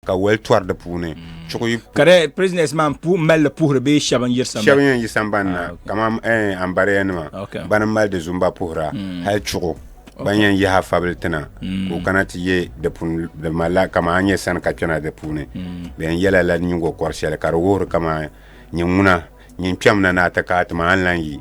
ka wali tɔri di puuni. Chuɣi. Ka di prisoners maa n puhi mali li puhiri bee shɛba n yiri sambani. Shɛba yɛn yi sambani na kamani ɛɛn Ambariya nima bani n mali di zumba puhira hali chuɣu ban yɛn yahi afabili ti na ka o kana ti yɛ di puni di mali la kamani a nyɛ sani ka kpɛna di puuni bɛ yɛn yɛla lala nyingokɔri shɛli ka di wuhiri kamani nyɛ ŋuna nyin kpɛm na ni a ti ka a ti maa n lan yi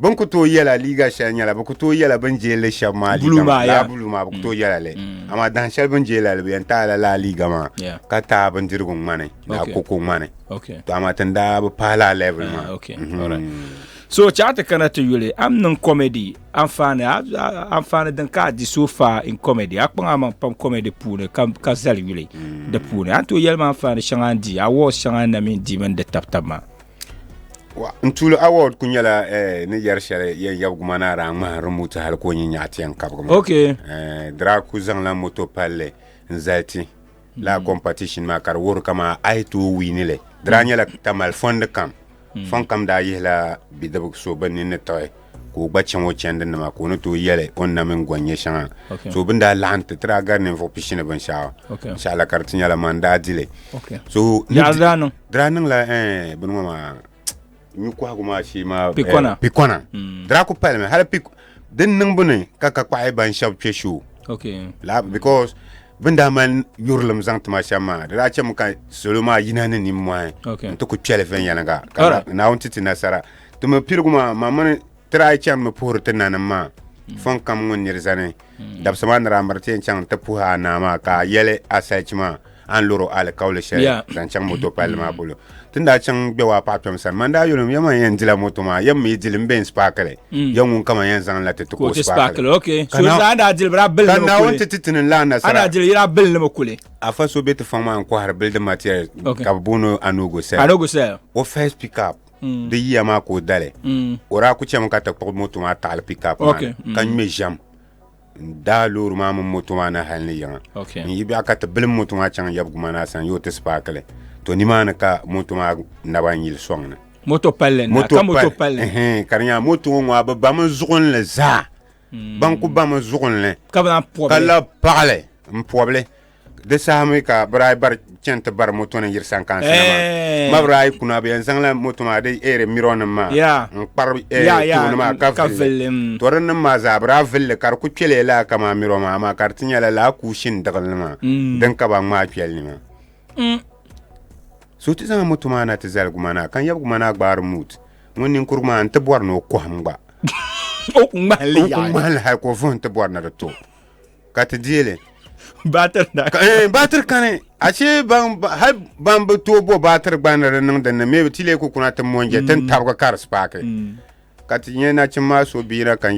Bɛ ni ku tooi yɛla liiga shɛli nyɛla bɛ ku tooi yɛla bɛ ni jeei li shɛba maa liiga Buluu maa, maa, ya. laa buluu maa bɛ ku tooi yɛla li. Amaa dahin shɛli bɛ ni jeei la li, bɛ yɛn taai la laa liiga maa Ya. ka taai bindirigu ŋmani laa Okay. koko ŋmani. Okay. To amaa ti ni daa bi paai laa level maa. Ah, okay. Mhm. Alright. So chɛɣu ti kana ti yuli, a ni niŋ comedy, anfaani, a- a- anfaani din ka a di so far in comedy, a kpaŋ a maŋ pam comedy puuni ka ka zali yuli di puuni. A ni tooi yɛli ma anfaani shɛŋa n di, awards shɛŋa na mi n di mini di tab tab maa. Wa n tuuli award ku nyɛla eh, ni yɛri shɛli yɛn yɛbi guma ni araa ŋmahi remote hali ka o nyi nyaɣa tiɛn kabigu maa. Okay. Eh, Draa ku zaŋla moto palli n zali ti la competition maa ka di wuhiri ka maa ayi ti o wiini li. Draa nyɛla tamali fɔndi kam. Fɔn kam daa yihila bidib so bin ni ni tiɣi ka o gba chaŋ o chɛndi nima ka o ni tooi yɛli o ni na mini gɔn nyɛ shɛŋa. Okay. So bin daa laɣim ti tiraa gari ninvuɣu pishini binshɛɣu. Okay. Shɛɣila ka di ti nyɛla man daa dili. Okay. So ni Yaɣa di- daa niŋ. Di daa niŋla eh, bini ŋɔ maa nyu kɔhigu maa shee maa eh, Pikɔna. pikɔna Mm. di daa ku palimi hali pik din niŋbu ni ka ka kpahi ban shɛba kpe shoo Okay. la because bin daa mali yurilim zaŋ tima shɛm maa di daa chɛmi ka salo maa yina ni nimmɔhi Okay. n ti ku kpɛli viɛnyɛliŋga ka Alright. na- naawuni ti ti nasara ti mi piligu maa ma mini Ti daa chaŋ mi puhiri ti nanim maa fɔŋ kam ŋun nir zani. Dabisa maa ni daa miri ti yɛn chaŋ nti puhi a naa maa ka a yɛli a salichi maa a ni lɔri o alikauli shɛli Yeah. zaŋ chaŋ moto palli maa polo. Ti ni daa chaŋ gbɛbu a paɣa kpɛm sani maa n daa yoli o, Yɛm a yɛn dila moto maa, yɛm mi yi dili m-be n-spaakili. Yɛm ŋun kama yɛn zaŋla ti ti Ka o ti spaakili. spaakili, ok. Ka So na- daa daa dili bi daa bilindi Ka mi Naawuni kuli. ti ti ti ni lan A nasara. daa dili yi daa bilindi mi kuli. Afa so be ti fɔŋ maa n-kɔhiri building materials Okay. ka bɛ booni o Anugu Sel. Anugu Sel. O first pick up mm. di yiya maa ka o dali mm. o daa ku chɛmi ka ti kpuɣi moto maa taɣali pikap maa okay. mm. ka ŋmɛ ʒɛm n daa loori maa mini moto maa na hali ni yiŋa okay. n yi biɛɣu ka ti bilim moto maa chaŋ yɛbigu ma na san yoo ti sipaakili to nimaani ka moto maa naba n yili sɔŋ ni moto palli na ka moto palli ka di nyɛla moto ŋɔ ŋɔ bi bami zuɣunli zaa ban ku ba mi zuɣunli ka lahi paɣali n pobili di saha mi ka bi daa bari chɛni ti bari moto nim yiri sankansi na maa ma bi daa kuna bi yɛn zaŋla moto maa di eeri miro nim maa n kpari tooni maa ka villi to din nim maa zaa bi daa villi ka di ku kpɛliya laa ka maa miro maa maa ka di ti nyɛla laa kuushin diɣili ni maa din ka ba ŋmaa kpɛli ni maa so ti zaŋ moto maa na ti zali guma naa ka yɛbi guma naa gbaari muut ŋun ninkurigu maa n ti bɔri ni o kɔhim gba o ku ŋmahili o ku yaɣali ŋmahili hali ka o vuhim ti bɔri ni di to ka ti deei li baatiri na Ka- eh, baatiri kani ashe ban ba- hali ban bi tooi bo baatiri gba ni di niŋ din ni mee bi ti lee ku kuna ti monje ti ni tabigi ka di spaaki ka ti nyɛ nachim maa so biina ka